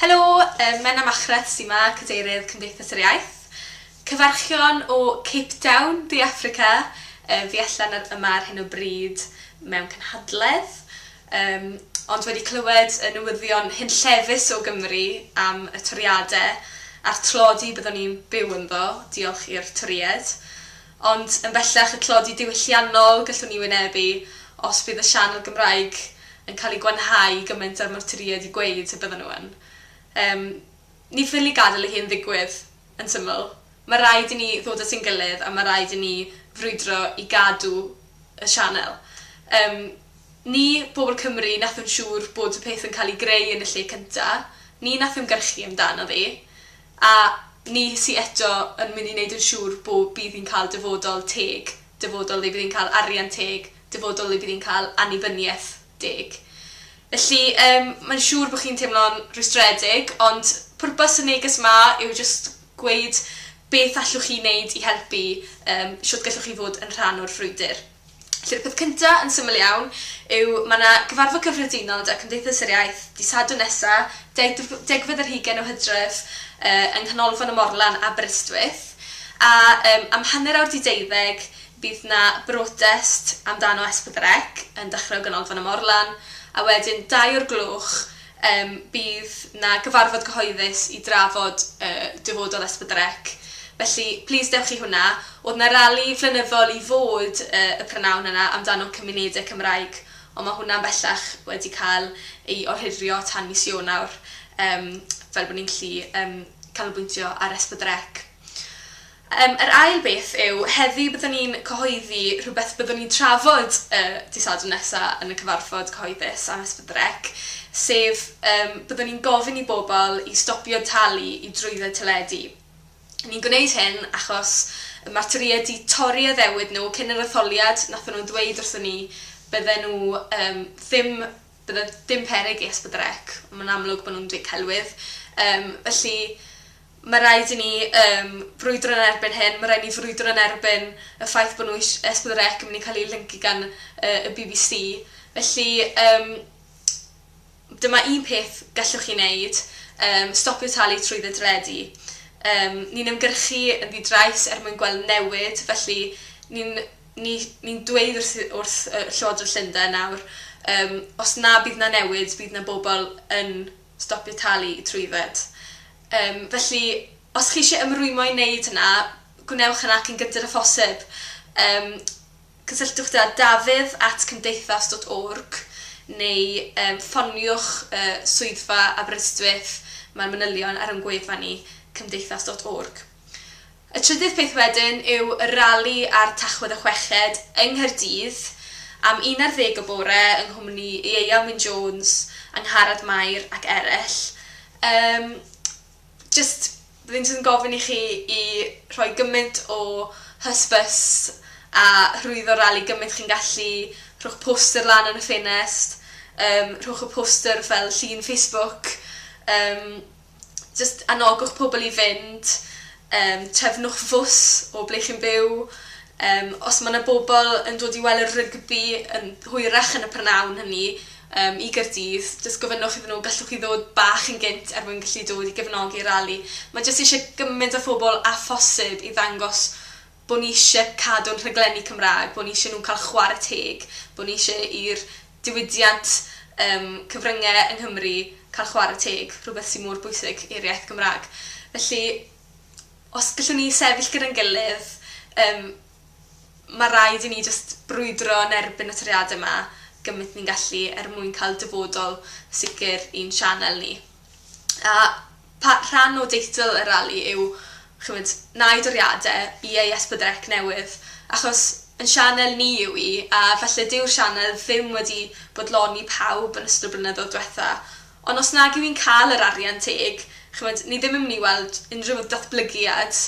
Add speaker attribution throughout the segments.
Speaker 1: Helo, yy Menna Machreth sy 'ma, Cadeirydd Cymdeithas yr Iaith. Cyfarchion o Cape Town, De Affrica. Yy fi allan ar yma ar hyn o bryd mewn cynhadledd, yym ond wedi clywed y newyddion hunllefus o Gymru am y toriade a'r tlodi byddwn ni'n byw ynddo, diolch i'r Torïaid. Ond yn bellach y tlodi diwylliannol gallwn ni wynebu os bydd y sianel Gymraeg yn cael ei gwanhau gymaint â'r martyrïaid i gweud y byddan nhw yn. Yym, ni ffili gadael i hyn ddigwydd, yn syml. Mae rhaid i ni ddod at ein gilydd a mae rhaid i ni frwydro i gadw y sianel. Yym, ni, bobl Cymru, wnaethon siŵr bod y peth yn cael ei greu yn y lle cyntaf, ni wnaeth ymgyrchu amdano ddi. A ni sy eto yn mynd i wneud yn siŵr bo bydd hi'n cael dyfodol teg, dyfodol le bydd hi'n cael arian teg, dyfodol le bydd hi'n cael annibyniaeth deg. Felly, yym, mae'n siŵr bod chi'n teimlo'n rhwystredig, ond pwrpas y neges 'ma yw jyst gweud beth allwch chi wneud i helpu, yym, shwt gallwch chi fod yn rhan o'r frwydr. Felly'r peth cynta', yn syml iawn, yw ma' 'na Gyfarfod Cyffredinol da Cymdeithas yr Iaith dydd Sadwrn nesa', degf- degfed ar hugain o Hydref, yy yng Nghanolfan y Morlan, Aberystwyth, a yym am hanner awr 'di deuddeg bydd 'na brotest amdano Es Pedwar Ec yn dechre o Ganolfan y Morlan, a wedyn dau o'r gloch Yym, bydd 'na gyfarfod cyhoeddus i drafod y dyfodol Esbydrec, felly plis dewch i hwnna. O'dd 'na rali flynyddol i fod yy y prynawn yna amdano cymunede Cymraeg, ond ma' hwnna'n bellach wedi cael ei ohirio tan mis Ionawr, yym fel bod ni'n gallu yym canolbwyntio ar Esbydrec. Yym, yr ail beth yw, heddi byddwn ni'n cyhoeddi rhywbeth byddwn ni'n trafod y dydd Sadwrn nesa yn y cyfarfod cyhoeddus am Esbydrec, sef yym byddwn ni'n gofyn i bobl i stopio talu i drwydded teledu. Ni'n gwneud hyn achos y ma'r Torïaid 'di torri addewid nhw cyn yr etholiad, nathon nhw ddweud wrthon ni bydden nhw yym ddim bydde dim peryg i Esbydrec, ma'n amlwg bo' nhw'n dŷ celwydd yym felly Mae rhaid i ni yym frwydro yn erbyn hyn, mae rhaid i ni frwydro yn erbyn y ffaith bod nhw eisiau S4C yn mynd i cael ei lyncu gan yy y bbc. Felly yym dyma un peth gallwch chi wneud, yym stopio talu trwy dde deledu. Yym ni'n ymgyrchu yn ddi-drais er mwyn gweld newid felly ni'n ni ni'n dweud wrth wrth yy Llywodraeth Llundain nawr yym os na bydd 'na newid bydd 'na bobl yn stopio talu trwydded. Yym, felly, os chi isie ymrwymo i wneud hynna, gwnewch hynna cyn gynted â phosib. Yym, cysylltwch da Dafydd at cymdeithas dot org neu yym ffoniwch y swyddfa Aberystwyth, mae'r manylion ar ein gwefan ni, cymdeithas dot org. Y trydydd peth wedyn yw y rali ar Tachwedd y Chweched yng Nghaerdydd am un ar ddeg y bore yng nghwmni Ieuan Wyn Jones, Angharad Mair ac eraill. Yym jyst rwy'n jyst yn gofyn i chi i rhoi gymaint o hysbys a hyrwyddo'r rali gymaint chi'n gallu, rhowch poster lan yn y ffenest, yym rhowch y poster fel llun Facebook yym. Jyst anogwch pobl i fynd yym trefnwch fws o ble chi'n byw yym os ma' 'na bobl yn dod i weld y rygbi yn hwyrach yn y prynhawn hynny yym i Gaerdydd jyst gofynnwch iddyn nhw gallwch chi ddod bach yn gynt er mwyn gallu dod i gefnogi'r rali. Ma' jyst isie gymaint o phobl â phosib i ddangos bo' ni isie cadw'n rhaglenni Cymraeg, bo' ni isie nhw cael chware teg, bo' ni isie i'r diwydiant yym cyfrynge yng Nghymru cael chware teg, rhywbeth sy mor bwysig i'r iaith Gymraeg. Felly, os gallwn ni sefyll gyda'n gilydd, yym ma' raid i ni jyst brwydro yn erbyn y toriade 'ma gymint ni'n gallu er mwyn cael dyfodol sicr i'n sianel ni. A pa- rhan o deitl y rali yw ch'mod na i doriade i ei ysbrydrec newydd achos yn sianel ni yw 'i a falle dyw'r sianel ddim wedi bodloni pawb yn ystod y blynyddodd dwetha on' os nag yw 'i'n ca'l yr arian teg ch'mod ni ddim yn myn' i weld unrhyw ddatblygiad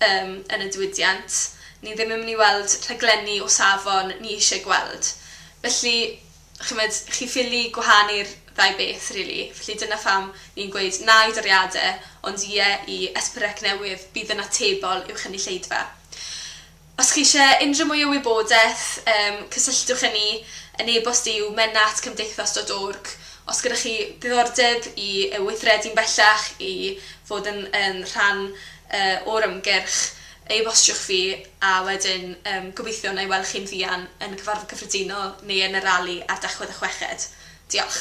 Speaker 1: yym yn y diwydiant ni ddim yn myn' i weld rhaglenni o safon ni isie gweld felly Chimod, chi ffili gwahanu'r ddau beth rili. Felly dyna pham ni'n gweud na i doriade ond ie i SPREC newydd bydd yn atebol i'w chynulleidfa. Os chi isie unrhyw mwy o wybodeth yym cysylltwch â ni, yn e-bost yw menna at cymdeithas dot org. Os gyda chi ddiddordeb i yy weithredu'n bellach i fod yn yn rhan yy o'r ymgyrch e-bostiwch fi a wedyn yym gobeithio wna i weld chi'n fuan yn y cyfarfod cyffredinol neu yn y rali ar Dachwedd a Chweched. Diolch.